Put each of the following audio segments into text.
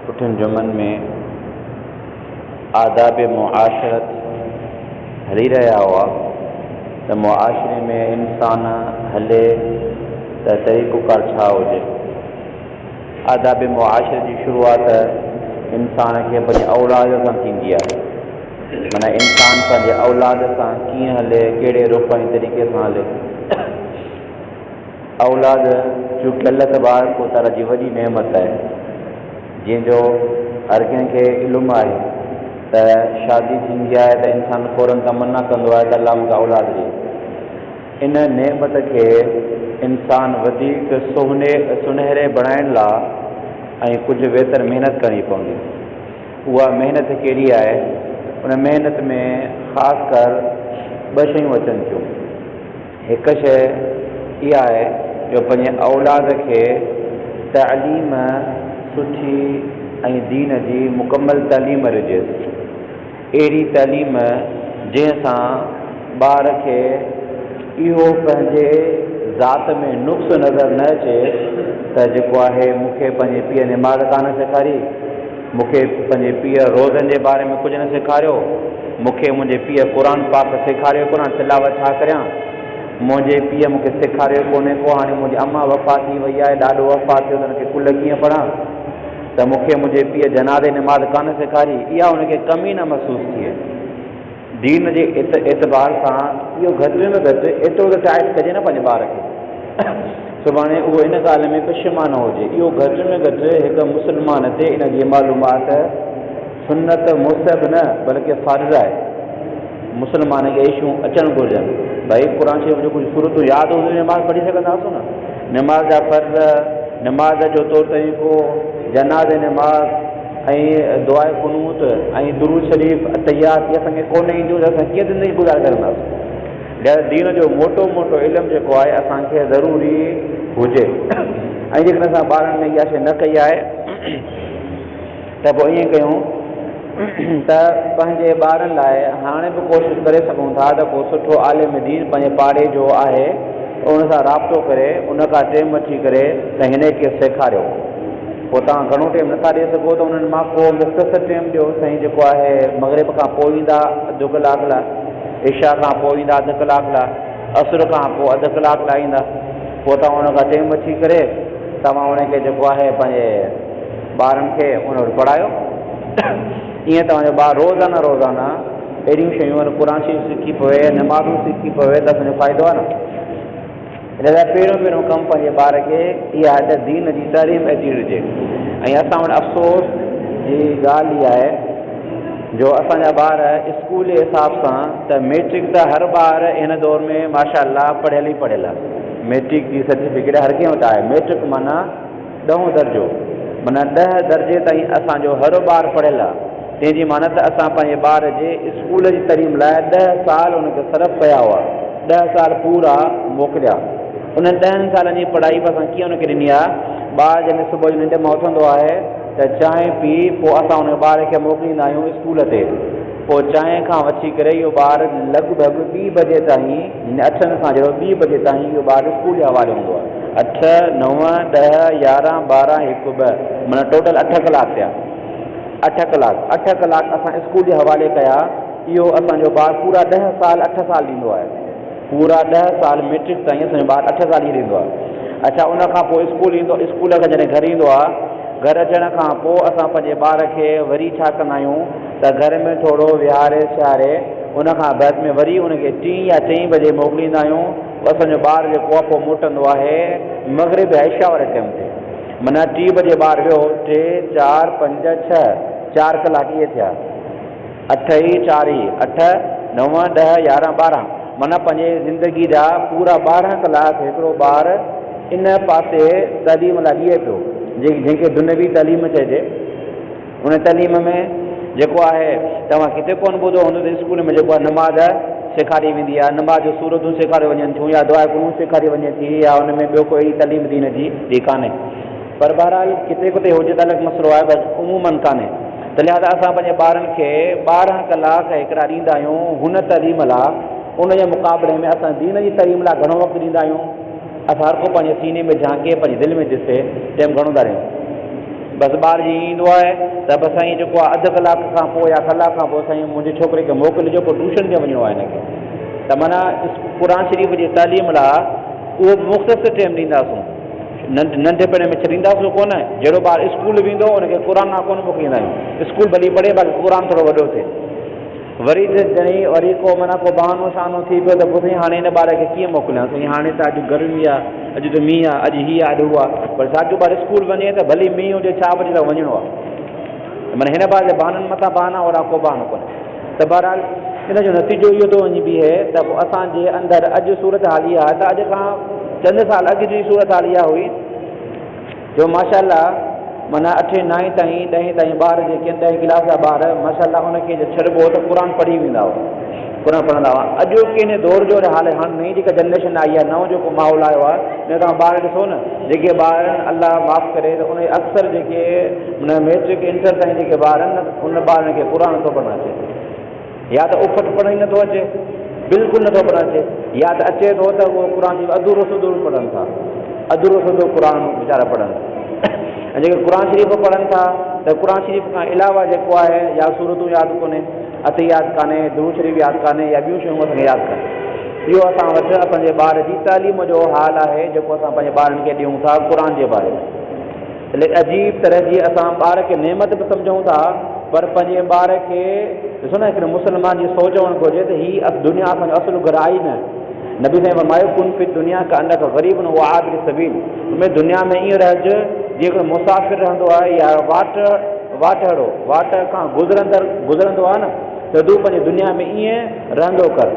پٺين جملن ۾ آداب معاشرت هلي رهيا هئا ته معاشري ۾ انسان هلي ته طريقوڪار ڇا هجي؟ آداب معاشرت جي شروعات انسان کي پنهنجي اولاد سان ٿيندي آهي. معنيٰ انسان پنهنجي اولاد سان ڪيئن هلي، ڪهڙي رخ ۽ طريقي سان هلي. اولاد چونڪه الله تبارڪ و تعاليٰ جي وڏي نعمت آهي، جنهن جو هر ڪنهن کي علم آهي ته شادي ٿيندي آهي ته انسان فوراً تمنا ڪندو آهي ته الله مون کي اولاد ڏي. ان نعمت کي انسان وڌيڪ سهني سنهري بڻائڻ لا۽ ڪجهه ويتر محنت ڪرڻي پوندي. اها محنت ڪهڙي آهي؟ ان محنت ۾ خاص ڪر ٻه شيون اچن ٿيون. هڪ شيء اها آهي جو پنهنجي اولاد کي تعليم سٺي ۽ دين جي مڪمل تعليم رجيس. اهڙي تعليم جنهن سان ٻار کي اهو پنهنجي ذات ۾ نقص نظر نه اچي ته جيڪو آهي مون کي پنهنجي پيء نماز ڪانه سيکاري، مون کي پنهنجي پيء روزن جي باري ۾ ڪجهه نه سيکاريو. مون کي منهنجي پيء قرآن پاڪ سيکاريو ڪونه، تلاوت ڇا ڪريان. منهنجي پيء مون کي سيکاريو ڪونهي ڪو. هاڻي منهنجي اماء وفات ٿي وئي آهي، ڏاڏو وفات ٿيو ته هن کي ڪل ڪيئن پڙهان ته مون کي منهنجي پيء جنازي نماز ڪانه سيکاري. اها هن کي ڪمي نه محسوس ٿئي. دين جي اعتبار سان اهو گهٽ ۾ گهٽ ايترو ته ٽائيٽ ڪجي نه پنهنجي ٻار کي سڀاڻي اهو ان ڳالهه ۾ پشيمانه هجي. اهو گهٽ ۾ گهٽ هڪ مسلمان تي ان جي معلومات سنت مستحب نه بلڪه فرض آهي. مسلمان کي ايشون اچڻ گهرجن. ڀائي قرآن شريف جون ڪجهه سورتون ياد هونديون نماز پڙهي سگهنداسون نه. نماز جا فرض، نماز جو طور طريقو، جنازي نماز. ۽ دعاء قنوت ۽ درود شريف التحيات اهي اسان کي ڪونه اينديون ته اسان ڪيئن زندگي گذار ڪرنداس لهذا دين جو موٽو موٽو علم جيڪو آهي اسان کي ضروري هجي ۽ جيڪڏهن اسان ٻارن ۾ اها شيء نه ڪئي آهي ته پوء ائين ڪيون ته پنهنجي ٻارن لاء هاڻي به ڪوشش ڪري سگهون ٿا ته ڪو سٺو عالم دين پنهنجي پاڙي جو آهي ان سان رابطو ڪري ان کان ٽيم وٺي ڪري ته هن کي سيکاريو پوء توهان گهڻو ٽيم نٿا ڏئي سگهو ته انهن مان ڪو مختصر ٽيم ڏيو سائين جيڪو آهي مغرب کان پوء ايندا اڌ ڪلاڪ لاء عشاء کان پوء ايندا اڌ ڪلاڪ لاء عصر کان پوء اڌ ڪلاڪ لاء ايندا پوء توهان ان کان ٽيم وٺي ڪري توهان ان کي جيڪو آهي پنهنجي ٻارن کي ان وٽ پڙهايو ائين توهان جو ٻار روزانه روزانه اهڙيون شيون قرآن شريف سکي پوي نمازون سکي پوي ته اسان جو فائدو آهي نه ان لاء پهريون پهريون ڪم پنهنجي ٻار کي اها آهي ته دين جي تعليم اچي ڏجي ۽ اسان وٽ افسوس جي ڳالهه اها آهي جو اسان جا ٻار اسڪول جي حساب سان ته ميٽرڪ ته هر ٻار هن دور ۾ ماشاء الله پڙهيل ئي پڙهيل آهي ميٽرڪ جي سرٽيفڪيٽ هر ڪنهن وٽ آهي ميٽرڪ معنيٰ ڏهون درجو، معنيٰ ڏهه درجي تائين اسان جو هر ٻار پڙهيل آهي، تنهن جي معنيٰ ته اسان پنهنجي ٻار جي اسڪول جي تعليم لاء ڏهه سال ان کي صرف ڪيا هئا، ڏهه سال پورا موڪليا. انهن ڏهن سالن جي پڙهائي به اسان ڪيئن ان کي ڏني آهي؟ ٻار جڏهن صبح جو ننڊ مان اٿندو آهي ته چانهه پي پوء اسان ان ٻار کي موڪليندا آهيون اسڪول تي، پوء چانهه کان وٺي ڪري اهو ٻار لڳ ڀڳ ٻي بجي تائين، هن اٺ کان جهڙو ٻي بجي تائين اهو ٻار اسڪول جي حوالي هوندو آهي. اٺ، نو، ڏهه، يارهن، ٻارهن، هڪ، ٻه معنيٰ ٽوٽل اٺ ڪلاڪ ٿيا. اٺ ڪلاڪ، اٺ ڪلاڪ اسان اسڪول جي حوالي ڪيا اهو اسان جو ٻار پورا ڏهه سال اٺ سال ريندو آهي. پورا ڏهه سال مئٽرڪ تائين اسان جو ٻار اٺ سال ئي ريندو آهي. اڇا ان کان پوء اسڪول ايندو اسڪول کان جڏهن گهر ايندو آهي گهر اچڻ کان پوء اسان پنهنجي ٻار کي وري ڇا ڪندا آهيون؟ ته گهر ۾ ٿورو ويهاري سياري ان کان بعد ۾ وري ان کي ٽين يا چئين بجي موڪليندا آهيون پوء اسان جو ٻار جيڪو آهي پوء موٽندو آهي مغرب يا عشاء واري ٽيم تي معنيٰ ٽي بجي ٻار ويو ٽي چار پنج ڇهه چار ڪلاڪ اهي ٿيا اٺ اي چار اي اٺ نو ڏهه يارهن ٻارهن معنيٰ پنهنجي زندگي جا پورا ٻارهن ڪلاڪ هڪڙو ٻار ان پاسي تعليم لاء ڏئي پيو جنهن کي دنيوي تعليم چئجي هن تعليم ۾ جيڪو آهي توهان ڪٿي ڪونه ٻڌو هوندو ته اسڪول ۾ جيڪو آهي نماز سيکاري ويندي آهي نماز جون سورتون سيکاريو وڃن ٿيون يا دعا قنوت سيکاري وڃي ٿي يا ان ۾ ٻيو ڪوئي تعليم دين جي جي ڪانهي پر بهرحال ڪٿي ڪٿي هجي ته الڳ مسئلو آهي بس عمومن ڪانهي ته لهذا اسان پنهنجي ٻارن کي ٻارهن ڪلاڪ هڪڙا ڏيندا آهيون هن تعليم لاء ان جي مقابلي ۾ اسان دين جي تعليم لاء گهڻو وقت ڏيندا آهيون اسان هر ڪو پنهنجي سيني ۾ جهانڪي پنهنجي دل ۾ ڏسي ٽيم گهڻو ٿا ڏيون بس ٻار جيئن ئي ايندو آهي ته بس سائين جيڪو آهي اڌ ڪلاڪ کان پوء يا ڪلاڪ کان پوء سائين منهنجي ڇوڪري کي موڪلجو ڪو ٽوشن تي وڃڻو آهي هن کي ته معنيٰ قرآن شريف جي تعليم لاء اهو به مختصر ٽيم ڏينداسون ننڍ ننڍپڻ ۾ ڇڏينداسون ڪونه جهڙو ٻار اسڪول ويندو هو ان کي قرآن نا ڪونه موڪليندا آهيون اسڪول ڀلي پڙهي باقي قرآن ٿورو وڏو ٿئي وري ته جني وري ڪو معنيٰ ڪو بهانو شهانو ٿي پيو ته پوء سائين هاڻي هن ٻار کي ڪيئن موڪليان سائين هاڻي ته اڄ گرمي آ اڄ ته مينهن آ اڄ هي آ اڄ هو آ پر ساڳيو ٻار اسڪول وڃي ته ڀلي مينهن هجي ڇا به هجي تان وڃڻو آ ته معنيٰ هن ٻار جا بهانن مٿان بهانا اهڙا ڪو بهانو ڪونهي ته بهرحال ان جو نتيجو اهو ٿو وڃي بيهي ته اسان جي اندر اڄ صورتحال اها آ ته اڄ کان چند سال اڳ جي صورتحال اها هئي جو ماشاء الله معنيٰ اٺين نائين تائين ڏهين تائين ٻار جيڪي آهن ڏهين ڪلاس جا ٻار ماشاء الله ان کي جي ڇڏبو هو ته قرآن پڙهي ويندا هئا قرآن پڙهندا هئا اڄ ڪي نه دور جو حال آهي هاڻ نئين جيڪا جنريشن آئي آهي نئون جيڪو ماحول آيو آهي جي توهان ٻار ڏسو نه جيڪي ٻار الله معاف ڪري ته ان جي اڪثر جيڪي معنيٰ ميٽرڪ انٽر تائين جيڪي ٻار آهن نه ان ٻارن کي قرآن نٿو پڙهڻ اچي يا ته اڦٽ پڙهڻ ئي نٿو اچي، بلڪل نٿو پڙهڻ اچي، يا ته اچي ٿو ته اهو قرآن شريف اڌورو سڌو به پڙهن ٿا، اڌورو سڌو قرآن ويچارا پڙهن ٿا ۽ جيڪي قرآن شريف به پڙهن ٿا ته قرآن شريف کان علاوه جيڪو آهي يا سورتون ياد ڪونهي، عطر ياد ڪانهي، درود شريف ياد ڪانهي يا ٻيون شيون اسان کي ياد ڪانهن. اهو اسان وٽ اسان جي ٻار جي تعليم جو حال آهي جيڪو اسان پنهنجي ٻارن کي ڏيون ٿا قرآن جي باري ۾. هڪ عجيب طرح جي اسان ٻار کي نعمت به سمجهون ٿا پر پنهنجي ٻار کي ڏسو نه هڪڙي مسلمان جي سوچ هئڻ گهرجي ته هي دنيا اسان جو اصل گهر آهي ئي نه نبي سائين فرمايو ڪن في الدنيا ڪانڪ غريب او عابر سبيل تون دنيا ۾ ائين رهج جيئن هڪڙو مسافر رهندو آهي يا واٽ واٽهڙو واٽ کان گذرندڙ گذرندو آهي نه ته تون پنهنجي دنيا ۾ ائين رهندو ڪر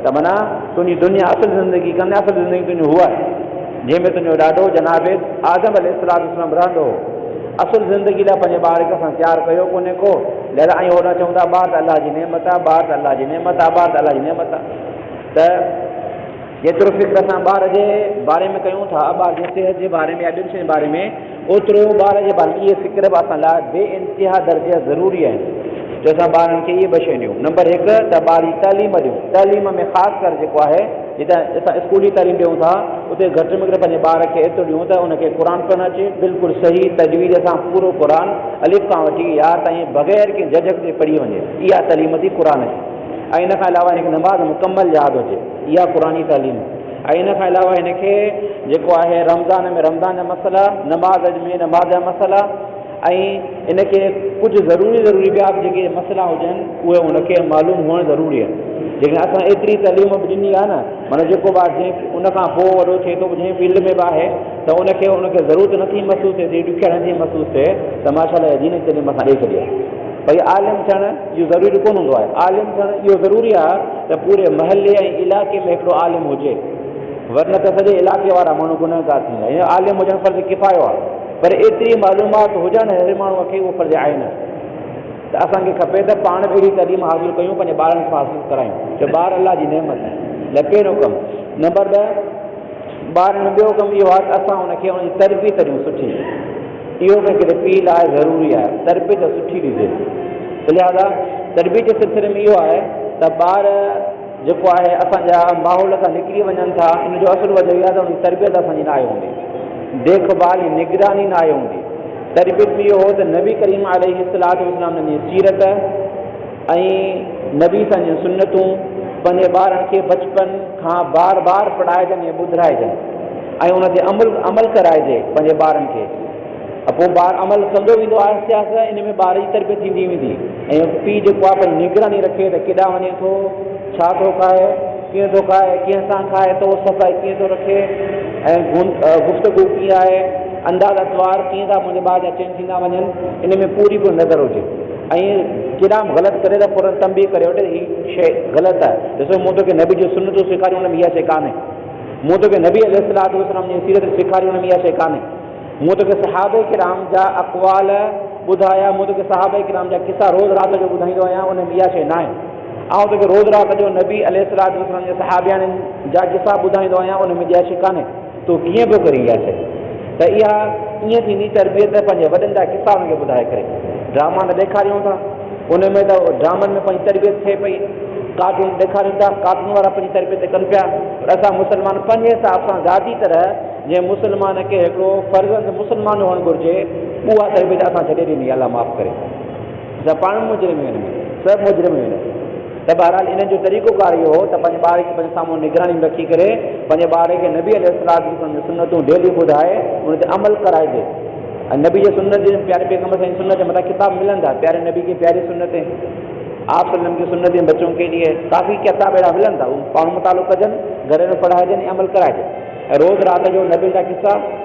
ته معنيٰ تنهنجي دنيا اصل زندگي ڪانهي اصل زندگي تنهنجي هوء آهي جنهن ۾ تنهنجو ڏاڏو جناب آدم عليه السلام رهندو هو. اصل زندگي لاء پنهنجي ٻار کي اسان تيار ڪيو ڪونهي ڪو، لهذا آئين هوڏانهن چئون ٿا ٻار ته الله جي نعمت آ، ٻار ته الله جي نعمت آ، ٻار ته الله جي نعمت آ ته جيترو فڪر اسان ٻار جي باري ۾ ڪيون ٿا، ٻار جي صحت جي باري ۾ يا ٻين شين جي باري ۾، اوترو ئي ٻار جي ڀلائي جي فڪر به اسان لاء بي انتها درجي ضروري آهي جو اسان ٻارن کي اهي ٻه شيون ڏيون نمبر هڪ ته ٻار جي تعليم ڏيون تعليم ۾ خاص ڪر جيڪو آهي جتي اسان اسڪولي تعليم ڏيون ٿا اتي گهٽ ۾ گهٽ پنهنجي ٻار کي ايترو ڏيون ته ان کي قرآن پڙهڻ اچي بلڪل صحيح تجويز سان پورو قرآن الف کان وٺي يا تائين بغير ڪنهن جهجڪ جي پڙهي وڃي اها تعليم ٿي قرآن جي ۽ ان کان علاوه ان کي نماز مڪمل ياد هجي اها قرآني تعليم ۽ ان کان علاوه هن کي جيڪو آهي رمضان ۾ رمضان جا مسئلا، نماز ۾ نماز جا مسئلا ۽ ان کي ڪجهه ضروري ضروري ٻيا به جيڪي مسئلا هجن اهي هن کي معلوم هئڻ ضروري آهن جيڪڏهن اسان ايتري تعليم به ڏني آهي نه معنيٰ جيڪو به آهي ان کان پوء وڏو ٿئي ٿو جنهن فيلڊ ۾ به آهي ته ان کي ان کي ضرورت نه ٿي محسوس ٿئي ٿي ڏکيائي نه ٿي محسوس ٿئي ته ماشاء الله دين جي تعليم اسان ڏئي ڇڏي آهي ڀئي عالم ٿيڻ اهو ضروري ڪونه هوندو آهي. عالم ٿيڻ اهو ضروري آهي ته پوري محلي ۽ علائقي ۾ هڪڙو عالم هجي، ورنه ته سڄي علائقي وارا ماڻهو گنهگار ٿيندا. هيئن عالم هجڻ فرض ڪفايو آهي، پر ايتري معلومات هجڻ هر ماڻهو کي اهو فرض عين آهي ته اسان کي کپي ته پاڻ به اهڙي تعليم حاصل ڪيون، پنهنجي ٻارن کي به حاصل ڪرايون، ڇو ٻار الله جي نعمت آهن. لپين حڪم. نمبر ڏهه. ٻارڻ ٻيو ڪم اهو آهي ته اسان ان کي ان جي تربيت ڏيون سٺي اهو به هڪڙي پيء لاء ضروري آهي تربيت سٺي ڏجي ته لهذا تربيت جي سلسلي ۾ اهو آهي ته ٻار جيڪو آهي اسان جا ماحول کان نڪري وڃن ٿا ان جو اصل وجه اهو آهي ته ان جي تربيت اسان جي ناهي هوندي ديک ڀال ۽ نگراني ناهي هوندي تربيت ۾ اهو هو ته نبي ڪريم عليه السلام جي سيرت ۽ نبي صه جون سنتون پنهنجي ٻارن کي بچپن کان بار بار پڙهائجن ۽ ٻڌرائجن ۽ ان تي عمل عمل ڪرائجي پنهنجي ٻارن کي ۽ پوء ٻار عمل ڪندو ويندو آهستي آهستي ان ۾ ٻار جي تربيت ٿيندي ويندي ۽ پيء جيڪو آهي پنهنجي نگراني رکي ته ڪيڏانهن وڃي ٿو ڇا ٿو کائي ڪيئن ٿو کائي ڪنهن سان کائي ٿو صفائي ڪيئن ٿو رکي ۽ گفتگو ڪيئن آهي انداز اطوار ڪيئن ٿا منهنجي ٻار جا چينج ٿيندا وڃن ان ۾ پوري پوري نظر هجي ائين ڪيڏانهن به غلط ڪري ته فوراً تنبيهه ڪري وٺ ته هي شيء غلط آهي. ڏسو مون توکي نبي جون سنتون سيکاريون ان ۾ اها شيء ڪانهي. مون توکي نبي عليه الصلوة والسلام جي سيرت سيکاري ان ۾ اها شيء ڪانهي. مون توکي صحابه ڪرام جا اقوال ٻڌايا، مون توکي صحابه ڪرام جا قصا روز رات جو ٻڌائيندو آهيان ان ۾ اها شيء ناهي. آئون توکي روز رات جو نبي عليه الصلوة والسلام جي صحابياڻين جا قصا ٻڌائيندو آهيان ان ۾ اها شيء ڪانهي. تون ڪيئن پيو ڪرين اها شيء ته اها ائين ٿيندي تربيت ته پنهنجي وڏن جا قصا انهن کي ٻڌائي ڪري ڊراما ته ڏيکاريون ٿا ان ۾ ته ڊرامن ۾ پنهنجي تربيت ٿئي پئي ڪارٽون ڏيکاريون ٿا ڪارٽون وارا پنهنجي تربيت ڪن پيا پر اسان مسلمان پنهنجي حساب سان ذاتي طرح جنهن مسلمان کي هڪڙو فرزند مسلمان هئڻ گهرجي اها تربيت اسان ڇڏي ڏني الله معاف ڪري سڀ پاڻ مجرم هيون. سڀ مجرم هيون. ته بهرحال انهن جو طريقو ڪار اهو هو ته پنهنجي ٻارڙي کي پنهنجي سامهون نگراني ۾ رکي ڪري پنهنجي ٻارڙي کي نبي عليه السلام جون ڪجهه سنتون ڊيلي ٻڌائي ان تي عمل ڪرائجي ۽ نبي جي سنت جي پياري پيغمبر سائين جي سنت جا مٿان ڪتاب ملن ٿا پياري نبي ڪي پياري سنتين آپ صلي وسلم ڪي سنتين بچون ڪي ليئي ڪافي ڪتاب اهڙا ملن ٿا اهو پاڻ مطالعو ڪجن گهرن ۾ پڙهائجن ۽ عمل ڪرائجن ۽ روز رات جو نبين جا قصا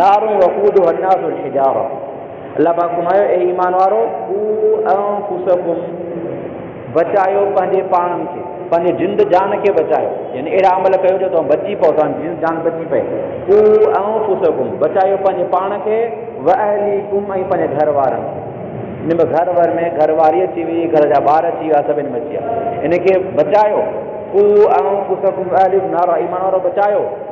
نار وقودها الناس والحجاره الله پاڪ فرمايو اي ايمان وارؤ قوا انفسڪم بچايو پنهنجي پاڻن کي پنهنجي جند جان کي بچايو يعني اهڙا عمل ڪيو جو توهان بچي پئو توهان جي جند جان بچي پئي قوا انفسڪم بچايو پنهنجي پاڻ کي واهليڪم ۽ پنهنجي گهر وارن کي ان ۾ گهر ور ۾ گهر واري اچي وئي گهر جا ٻار اچي ويا سڀ ان ۾ اچي ويا ان کي بچايو قوا انفسڪم واهليڪم نارا ايمان وارؤ بچايو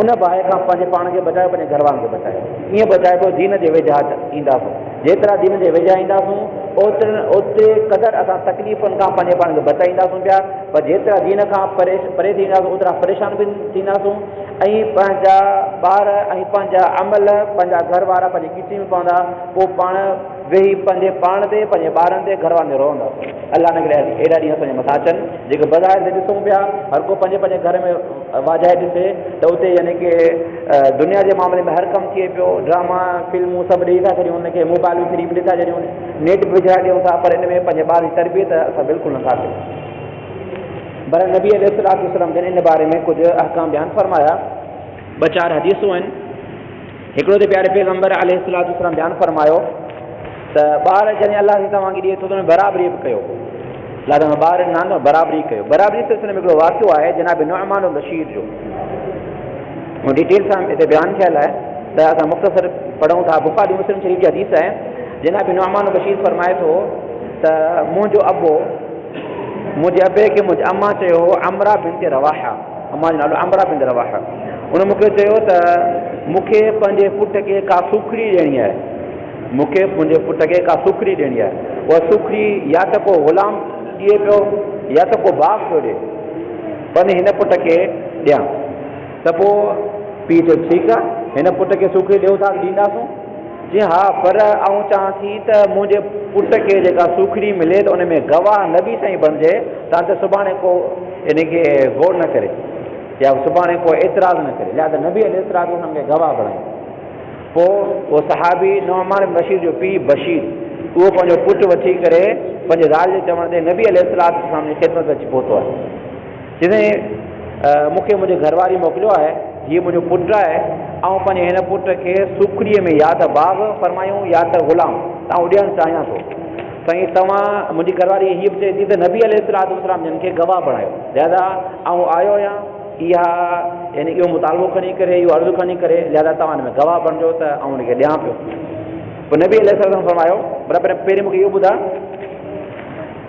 ان باهه کان پنهنجي پاڻ کي بچايو پنهنجي گهر وارن کي بچايو ائين بچائبو دين جي ويجها اينداسون جيترا دين جي ويجها اينداسون اوترن اوتري قدر اسان تڪليفن کان پنهنجي پاڻ کي بچائينداسون پيا پر جيترا دين کان پري پري ٿي وينداسون اوترا پريشان به ٿينداسون ۽ پنهنجا ٻار ۽ پنهنجا عمل پنهنجا گهر وارا پنهنجي ڪيچڙي ۾ پوندا پوء پاڻ ويهي پنهنجي پاڻ تي، پنهنجي ٻارن تي، گهر وارن تي روئندا. الله نه ڪري اهڙا ڏينهن اسان جي مٿان اچن، جيڪي بظاهر تي ڏسون پيا، هر ڪو پنهنجي پنهنجي گهر ۾ واجهائي ڏسي ته اتي يعني ڪي دنيا جي معاملي ۾ هر ڪم ٿئي پيو، ڊراما، فلمون سڀ ڏيئي ٿا ڇڏيون هن کي، موبائلون فري ۾ ڏئي ٿا ڇڏيون، نيٽ به وجهرائي ڏيون ٿا، پر ان ۾ پنهنجي ٻارن جي تربيت اسان بلڪل نه ٿا ڪيون. بهرحال نبي عليه الصلوة والسلام جن ان باري ۾ ڪجهه احڪام بيان فرمايا. ٻه چار حديثون آهن. هڪڙو ته پياري پيغمبر عليه الصلوة والسلام بيان فرمايو ته ٻار جڏهن الله تعالي توهان کي ڏئي ٿو ته ان ۾ برابري به ڪيو. الله تعالي ٻار ڏنا ته برابري ڪيو. برابري سلسلي ۾ هڪڙو واقعو آهي جناب نعمان البشير جو. هو ڊيٽيل سان هتي بيان ٿيل آهي ته اسان مختصر پڙهون ٿا. بخاري مسلم شريف جي حديث آهي. جناب نعمان البشير فرمائي ٿو ته منهنجو ابو منهنجي ابي کي منهنجي اما چيو هو عمرا بنت رواحه امان جو نالو عمرا بنت رواحه ان مون کي چيو ته مون کي پنهنجي پٽ کي ڪا سوکڙي ڏيڻي آهي مون کي منهنجي پٽ کي ڪا سوکڙي ڏيڻي آهي اها سوکڙي يا ته ڪو غلام ڏئي پيو يا ته ڪو باپ پيو ڏئي پنهنجي هن پٽ کي ڏيان ته پوء پيء چيو ٺيڪ آهي هن پٽ کي سوکڙي ڏيو ٿا ڏينداسون جي ها پر آئون چاهان ٿي ته منهنجي پٽ کي جيڪا سوکڙي ملي ته ان ۾ گواهه نبي سائين بڻجي تان ته سڀاڻي ڪو ان کي غور نه ڪري يا سڀاڻي ڪو اعتراض نه ڪري لهذا نبي عليه السلام ان کي گواهه بڻائي پوء اهو صحابي نعمان بشير جو پيء بشير اهو پنهنجو پٽ وٺي ڪري پنهنجي زال جي چوڻ تي نبي عليه السلام جي خدمت اچي پهتو آهي چيائين سائين مون کي منهنجي گهر واري موڪليو آهي، هيء منهنجو پٽ آهي، آئون پنهنجي هن پٽ کي سوکڙيء ۾ يا ته باغ فرمايون يا ته غلام تان اڏيڻ چاهيان ٿو، سائين توهان منهنجي گهر واري هيء به چئي ٿي ته نبي عليه الصلوة والسلام جن کي گواهه بڻايو، لهذا آئون آيو آهيان اها يعني اهو مطالبو کڻي ڪري اهو عرض کڻي ڪري لهذا توهان هن ۾ گواهه بڻجو ته آئون هن کي ڏيان پيو، پوء نبي عليه الصلوة والسلام فرمايو، پر پهرين مون کي اهو ٻڌاء.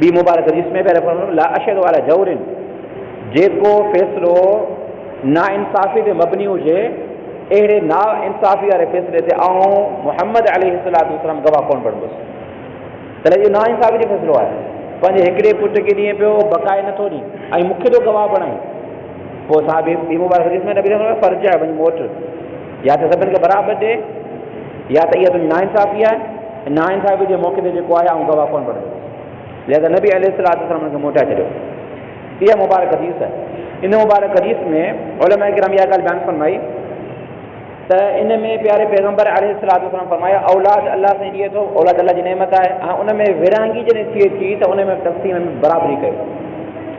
ٻي مبارڪ حديث ۾ پياري فرمايو، لا اشهد علي جور، جيڪو فيصلو ناانصافي تي مبني هجي، اهڙي ناانصافي واري فيصلي تي آئون محمد عليه الصلوة والسلام گواهه ڪونه بڻبس. تڏهن اهو ناانصافي جو فيصلو آهي. پنهنجي هڪڙي پٽ کي ڏئين پيو، بقائي نه ٿو ڏئين ۽ مون کي ٿو گواهه بڻائين. پوء صحابي ٻي مبارڪ حديث ۾ نبي فرمايو، فرجع، وڃ موٽ. يا ته سڀن کي برابر ڏي يا ته اها تنهنجي ناانصافي آهي ۽ ناانصافي جي موقعي تي جيڪو آهي آئون گواهه ڪونه بڻجندس. لهذا نبي عليه الصلوة والسلام هن کي موٽائي ڇڏيو. اها مبارڪ حديث آهي. ان مبارڪ حديث ۾ علماء ڪرام اها ڳالهه بيان فرمائي ته ان ۾ پياري پيغمبر عليه الصلوة والسلام فرمايو اولاد الله سائين ڏئي ٿو، اولاد الله جي نعمت آهي ۽ ان ۾ ورهاڱي جڏهن ٿئي ٿي ته ان ۾ تقسيم ۾ برابري ڪيو.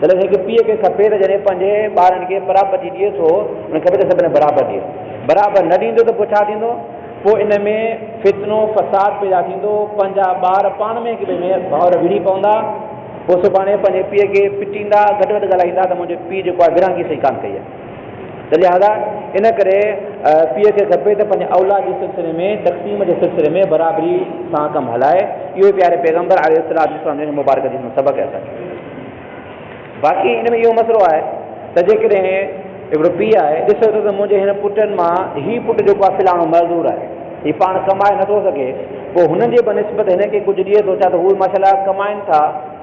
تڏهن هڪ پيء کي کپي ته جڏهن پنهنجي ٻارن کي پراپرٽي ڏئي ٿو ان کي کپي ته سڀني برابر ڏئي. برابر نه ڏيندو ته پوء ڇا ٿيندو؟ پوء ان ۾ فتنو فساد پيدا ٿيندو، پنهنجا ٻار پاڻ ۾ هڪ ٻئي ۾ ڀاؤر وڙهي پوندا، پوء سڀاڻي پنهنجي پيء کي پٽيندا، گهٽ وڌ ڳالهائيندا ته منهنجي پيء جيڪو آهي ورهاڱي صحيح ڪانه ڪئي آهي. ته لهٰذا ان ڪري پيء کي کپي ته پنهنجي اولاد جي سلسلي ۾ تقسيم جي سلسلي ۾ برابري سان ڪم هلائي. اهو ئي پياري پيغمبر عليه الصلوة والسلام جي هن مبارڪ حديث مان سبق احساس ٿئي ٿو. باقي ان ۾ اهو مسئلو آهي ته جيڪڏهن هڪڙو پيء آهي ڏسي ٿو ته منهنجي هن پٽن مان هي پٽ جيڪو آهي فلاڻو معذور آهي هي پاڻ ڪمائي نٿو سگهي پوء هن جي بنسبت هن کي ڪجهه ڏئي ٿو ڇا ته هو ماشاء الله ڪمائين ٿا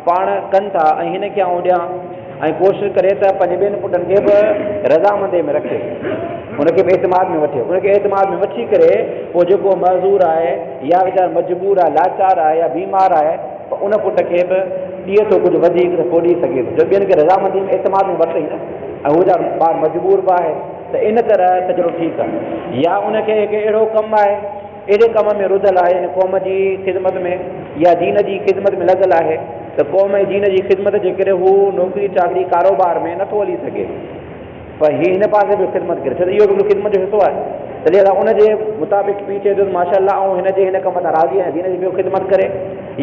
پاڻ ڪن ٿا ۽ هن کي آئون ڏيان ۽ ڪوشش ڪري ته پنهنجي ٻين پٽن کي به رضامندي ۾ رکي ان کي به اعتماد ۾ وٺي ان کي اعتماد ۾ وٺي ڪري پوء جيڪو معذور آهي يا ويچارو مجبور آهي لاچار آهي يا بيمار آهي ته ان پٽ کي به ڏي ٿو ڪجهه وڌيڪ ته پوء ڏي سگهي ٿو جو ٻين کي رضامندي ۾ اعتماد ۾ ورتئي نه ۽ هو ويچارو ٻار مجبور به آهي ته ان طرح ته چلو ٺيڪ آهي يا ان کي هڪ اهڙو ڪم آهي اهڙي ڪم ۾ رڌل آهي يعني قوم جي خدمت ۾ يا دين جي خدمت ۾ لڳل آهي ته قوم ۽ دين جي خدمت جي ڪري هو نوڪري چاڪري ڪاروبار ۾ نٿو هلي سگهي پر هي هن پاسي به خدمت ڪري ڇو ته اهو به هڪڙو خدمت جو حصو آهي ته لهذا ان جي مطابق پيء چئي ٿو ته ماشاء الله آئون هن جي هن ڪم تان راضي آهيان دين جي پيو خدمت ڪري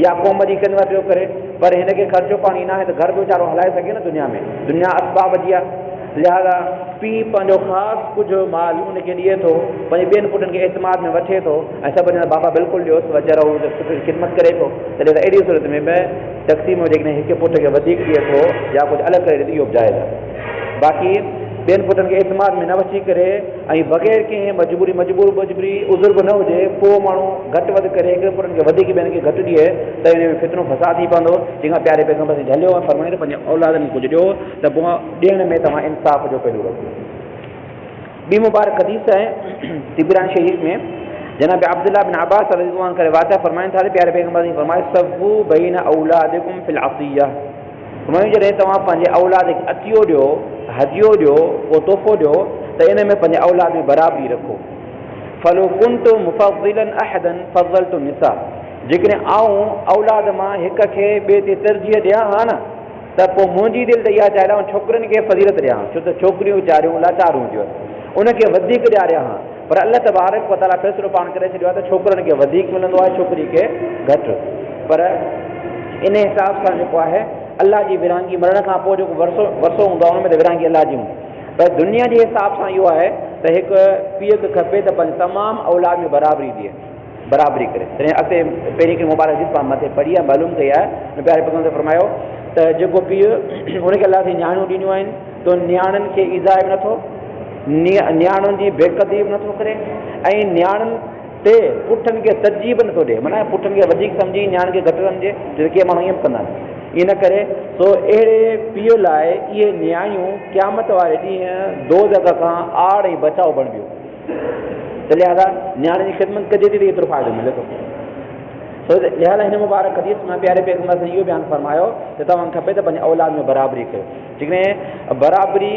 يا قوم جي خدمت پيو ڪري پر هن کي خرچو پاڻي ناهي ته گهر به ويچارو هلائي سگهي نه دنيا ۾ دنيا اسباب جي آهي لهٰذا پيء پنهنجو خاص ڪجهه مال ان کي ڏئي ٿو، پنهنجي ٻين پٽن کي اعتماد ۾ وٺي ٿو ۽ سڀ چوندا آهن بابا بلڪل ڏيوس ويچارو هو ته سٺي خدمت ڪري ٿو، تڏهن ته اهڙيء صورت ۾ به تقسيم ۾ جيڪڏهن هڪ پٽ کي وڌيڪ ڏئي ٿو يا ڪجهه الڳ ڪري ڏئي ٿو اهو به جائز آهي. باقي ٻين پٽن کي اعتماد ۾ نه وٺي ڪري ۽ بغير ڪنهن مجبوري، مجبور مجبري، عذر به نه هجي، پوء ماڻهو گهٽ وڌ ڪري هڪڙن پٽن کي وڌيڪ ٻين کي گهٽ ڏئي ته ان ۾ فتنو فساد ٿي پوندو، جنهن کان پياري پيغمبر سائين جهليو ۽ فرمايائين ته پنهنجي اولادن کي ڪجهه ڏيو. ته پوء ڏيڻ ۾ توهان انصاف جو پيلو رکو. ٻي مبارڪ حديث آهي طبراني شريف ۾ جناب عبدالله بن عباس رضي الله عنه ڪري واقع فرمائن ٿا ته پياري پيغمبر صلي الله عليه وسلم فرمايو صفو بين اولادڪم في العطيه فرمايو جڏهن توهان پنهنجي اولاد کي عطيو ڏيو هديو ڏيو ڪو تحفو ڏيو ته ان ۾ پنهنجي اولاد ۾ برابري رکو فلو كنت مفضلا احدا فضلت النساء جيڪڏهن آئون اولاد مان هڪ کي ٻئي تي ترجيح ڏيان ها نه ته پوء منهنجي دل ته اها چاهي ٿو آئون ڇوڪرين کي فضيلت ڏيان، ڇو ته ڇوڪريون ويچاريون لاچار هونديون آهن، انهن کي وڌيڪ ڏياريان ها، پر الله تبارڪ و تعاليٰ فيصلو پاڻ ڪري ڇڏيو آهي ته ڇوڪرن کي وڌيڪ ملندو آهي ڇوڪرين کي گهٽ، پر ان حساب سان جيڪو آهي الله جي ورهاڱي مرڻ کان پوء جيڪو ورثو ورثو هوندو آهي ان ۾ ته ورهاڱي الله جي هوندي پر دنيا جي حساب سان اهو آهي ته هڪ پيء کي کپي ته پنهنجي تمام اولاد ۾ برابري ڏئي. برابري ڪري تڏهن اڳتي پهرين هڪڙي مبارڪ جت پاڻ مٿي پڙهي آهي معلوم ڪئي آهي ان پياري پيغمبر صلي الله عليه وسلم فرمايو ته جيڪو پيء ان کي الله سين نياڻيون ڏنيون آهن ته ان نياڻين کي ايذاء به نٿو نياڻين جي بي قدري به نٿو ڪري ۽ نياڻين تي پٺن کي ترجيح به نٿو ڏي معنيٰ پٺن کي وڌيڪ سمجھي نياڻين کي گھٽ سمجھي جو ڪي ماڻهو ائين به ڪندا آهن ان ڪري سو اهڙي پيء لاء اهي نياڻيون قيامت واري ڏينهن دوزخ کان آڙ ۽ بچاء بڻبيون ته لهذا نياڻي جي خدمت ڪجي ٿي ته ايترو فائدو ملي ٿو. سو لهذا هن مبارڪ حديث ۾ پياري پيغمبر صلي اهو بيان فرمايو ته توهان کي کپي ته پنهنجي اولاد ۾ برابري ڪيو. جيڪڏهن برابري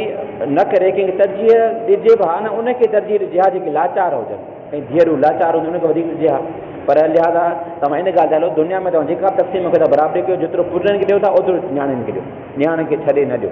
نه ڪري ڪنهن کي ترجيح ڏجي به ها نه ان کي ترجيح ڏجي ها جيڪي لاچار هجن. ڪئين ڌيئرون لاچار هجن ان کي وڌيڪ ڏجي ها. پر لهذا توهان ان ڳالهه تي هلو دنيا ۾ توهان جيڪا به تقسيم ڪيو ٿا برابري ڪيو جيترو پٽن کي ڏيو ٿا اوترو نياڻين کي ڏيو. نياڻين کي ڇڏي نه ڏيو.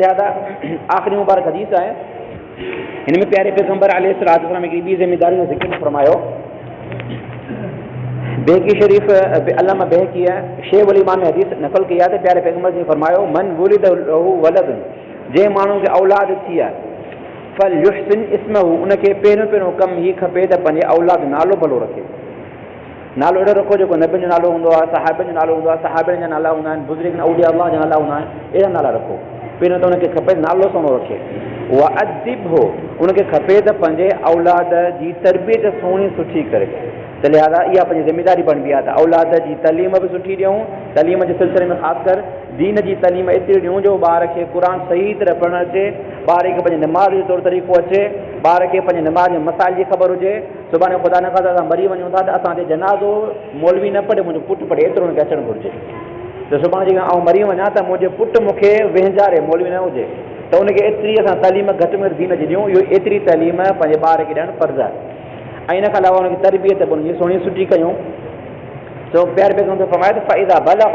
لهٰذا آخري مبارڪ حديث آهي هن ۾ پياري پيغمبر عليه الصلاح والسلام هڪڙي ٻي ذميداري جو ذڪر فرمايو بيهقي شريف علامه بيهقي شيء ولي مان ۾ حديث نقل ڪئي آهي ته پياري پيغمبر جي فرمايو من ولد له ولد جنهن ماڻهو کي اولاد ٿي آهي فل يحسن اسمه ان کي پهريون پهريون ڪم هي کپي ته پنهنجي اولاد نالو ڀلو رکي نالو اهڙو رکو جيڪو نبين جو نالو هوندو آهي، صحابين جو نالو هوندو آهي، صحابين جا نالا هوندا آهن، بزرگن اولياء الله جا نالا هوندا آهن، اهڙا نالا رکو. پهريون ته ان کي کپي نالو سهڻو رکي. وادبه ان کي کپي ته پنهنجي اولاد جي تربيت سهڻي سٺي ڪري ته لهذا اها پنهنجي ذميداري بڻبي آهي ته اولاد جي تعليم به سٺي ڏيون، تعليم جي سلسلي ۾ خاص ڪر دين جي تعليم ايتري ڏيون جو ٻار کي قرآن صحيح طرح پڙهڻ اچي، ٻار کي پنهنجي نماز جو طور طريقو اچي، ٻار کي پنهنجي نماز جي مسائل جي خبر هجي. سڀاڻي خدا نخواسته اسان مري وڃون ٿا ته اسان تي جنازو مولوي نه پڙهي منهنجو پٽ پڙهي ايترو هن کي اچڻ گهرجي ته سڀاڻي جيڪڏهن آئون مري وڃان ته منهنجي پٽ مون کي وهنجاري مولوي نه هجي ته ان کي ايتري اسان تعليم گهٽ ۾ گهٽ دين جي ڏيون اهو ايتري تعليم پنهنجي ٻار کي ڏيڻ فرض آهي ۽ ان کان علاوه ان کي تربيت به ان جي سهڻي سٺي ڪيون سو پيار پيغمبر فرمايو ته فائده بلغ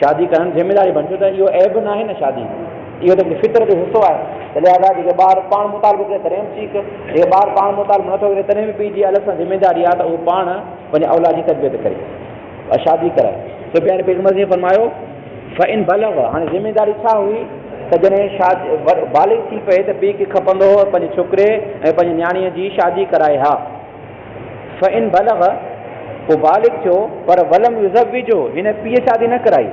شادي ڪرڻ ذميواري بڻجي ته اهو عيب ناهي نه شادي اهو ته هڪ فطرت جو حصو آهي ته لهذا جيڪي ٻار پاڻ مطالبو ڪري تڏهن به ٺيڪ جيڪي ٻار پاڻ مطالبو نٿو ڪري تڏهن به پيء جي الڳ سان ذميواري آهي ته اهو پاڻ پنهنجي اولاد جي تربيت ڪري ۽ شادي ڪرائي سفيان پيغمبر صلي الله عليه وسلم فرمايو فإن بلغ هاڻي ذميواري ڇا هئي ته جڏهن شاد بالغ ٿي پئي ته پيء کي کپندو هو پنهنجي ڇوڪري ۽ پنهنجي نياڻيء جي شادي ڪرائي ها فإن بلغ، پوء بالغ ٿيو، پر ولم يزوجه، هن پيء شادي نه ڪرائي،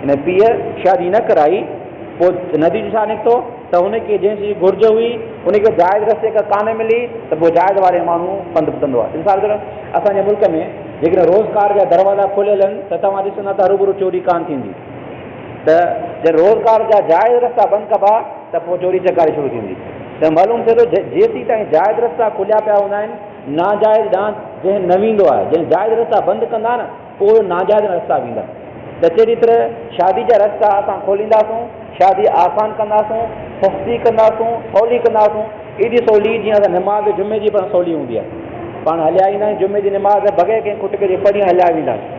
هن پيء شادي نه ڪرائي، پوء نتيجو ڇا نڪتو ته هن کي جنهن شيء جي گهرج هئي، ان کي جائز رستي کان ڪانه ملي ته پوء جائز واري ماڻهو پنڌ ٻڌندو آهي. مثال طور اسان جي ملڪ ۾ جيڪڏهن روزگار جا دروازا کليل آهن ته توهان ڏسندا ته هروڀرو چوري ڪانه ٿيندي ته جڏهن روزگار جا جائز رستا بند ڪبا، ته پوء چوري چڪاري شروع ٿيندي ته معلوم ٿئي ٿو جيسين تائين جائز رستا کليا پيا هوندا آهن ناجائز ڏانهن ذهن نه ويندو آهي جڏهن جائز رستا بند ڪندا نه پوء اهي ناجائز رستا ويندا ته چيري طرح شادي جا رستا اسان کولينداسون شادي آسان ڪنداسون سستي ڪنداسون سولي ڪنداسون ايڏي سولي جيئن اسان نماز جمعي جي به سولي هوندي آهي پاڻ هليا ايندا آهيون جمعي جي نماز بغير ڪنهن کٽڪي جي پرينء هليا ويندا آهيون.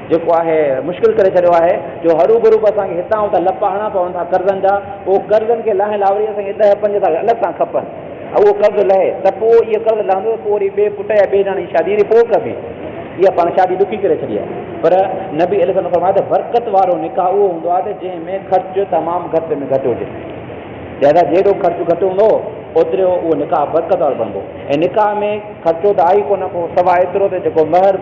جيڪو آهي مشڪل ڪري ڇڏيو آهي جو هروڀرو به اسان کي هتان هتان لپ هڻڻا پون ٿا قرضن جا اهو قرضن کي لاهڻ لاء وري اسان کي ڏهه پنج سال الڳ سان کپن ۽ اهو قرض لهي ته پوء اهو قرض لهندو ته پوء وري ٻئي پٽ يا ٻئي نياڻي جي شادي وري پوء ڪبي اها پاڻ شادي ڏکي ڪري ڇڏي آهي پر نبي عليه السلام فرمايو ته برڪت وارو نڪاح اهو هوندو آهي ته جنهن ۾ خرچ تمام گهٽ ۾ گهٽ هجي لهذا جيڏو خرچ گهٽ هوندو اوترو اهو نڪاح برڪت وارو بڻبو ۽ نڪاح ۾ خرچو ته آهي ڪونه ڪو سواء ايترو ته جيڪو مهر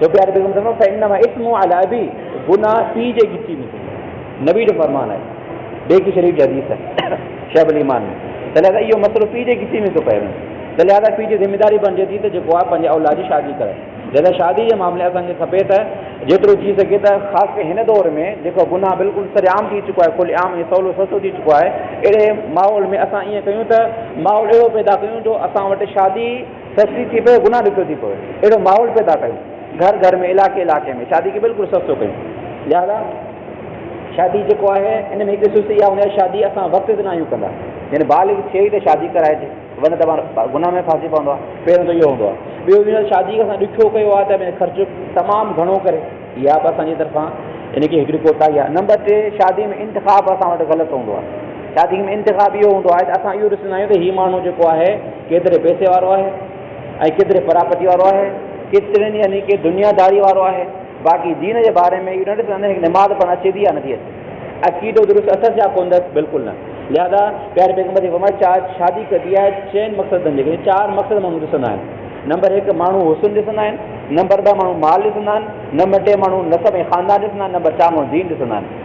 ڇو پياري بيگم صاحبه فانما اسمو علي ابي گناھ پي جي ڳچي ۾ ٿيندو نبي جو فرمان آهي بيهقي شريف جي حديث آهي شعب الايمان ۾ ته لهذا اهو مسئلو پي جي ڳچي ۾ ٿو پئي وڃي ته لهذا پي جي ذميداري بڻجي ٿي ته جيڪو آهي پنهنجي اولاد جي شادي ڪرائي لهذا شادي جي معاملي اسان کي کپي ته جيترو ٿي سگهي ته خاص ڪري هن دور ۾ جيڪو گناھ بلڪل سري عام ٿي چڪو آهي کل عام ۽ سولو سستو ٿي چڪو آهي اهڙي ماحول ۾ اسان ائين ڪيون ته ماحول اهڙو پيدا ڪيون جو اسان وٽ شادي سستي ٿي پئي گناهه ڏکيو ٿي پوي اهڙو ماحول پيدا ڪيون گهر گهر ۾ علائقي علائقي ۾ شادي کي بلڪل سستو ڪيون لهذا شادي جيڪو آهي ان ۾ هڪ سستي اها هوندي آهي شادي اسان وقت تي ناهيون ڪندا يعني بالغ ٿئي ته شادي ڪرائجي ورنه ته پاڻ گناهه ۾ ڦاسي پوندو آهي پهريون ته اهو هوندو آهي ٻيو هن شادي کي اسان ڏکيو ڪيو آهي ته خرچ تمام گهڻو ڪري اها به اسانجي طرفان ان کي هڪڙي ڪوتاهي آهي نمبر ٽي شادي ۾ انتخاب اسان وٽ غلط هوندو آهي شادي ۾ انتخاب اهو هوندو آهي ته اسان اهو ڏسندا آهيون ته هي ماڻهو جيڪو آهي ڪيتري پئسي وارو آهي ۽ ڪيتري پراپرٽي وارو آهي، ڪيترين يعني ڪي دنيا داري وارو آهي، باقي دين جي باري ۾ اهو نه ڏسندا آهن ته نماز پڙهڻ اچي ٿي يا نٿي اچي، عقيدو درست اٿس يا ڪونه اٿس، بلڪل نه، لهذا پياري پيغمبر جي فرمايو چار شادي ڪبي آهي چئن مقصدن جي ڪري، چار مقصد ماڻهو ڏسندا آهن، نمبر هڪ ماڻهو حسن ڏسندا آهن، نمبر ٻه ماڻهو مال ڏسندا آهن، نمبر ٽي ماڻهو نسب ۽ خاندان ڏسندا آهن، نمبر چار ماڻهو دين ڏسندا آهن.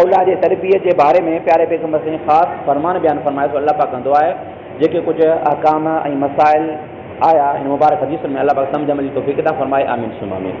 اولاد جي تربيت جي باري ۾ پياري پيغمبر صلعم خاص فرمان بيان فرمايو ته الله پاڪ ڪندو آهي جيڪي ڪجهه احڪام ۽ مسائل آيا هن مبارڪ حديثن ۾ الله پاڪ سمجهه عمل جي توفيق عطا فرمائي آمين ثم آمين.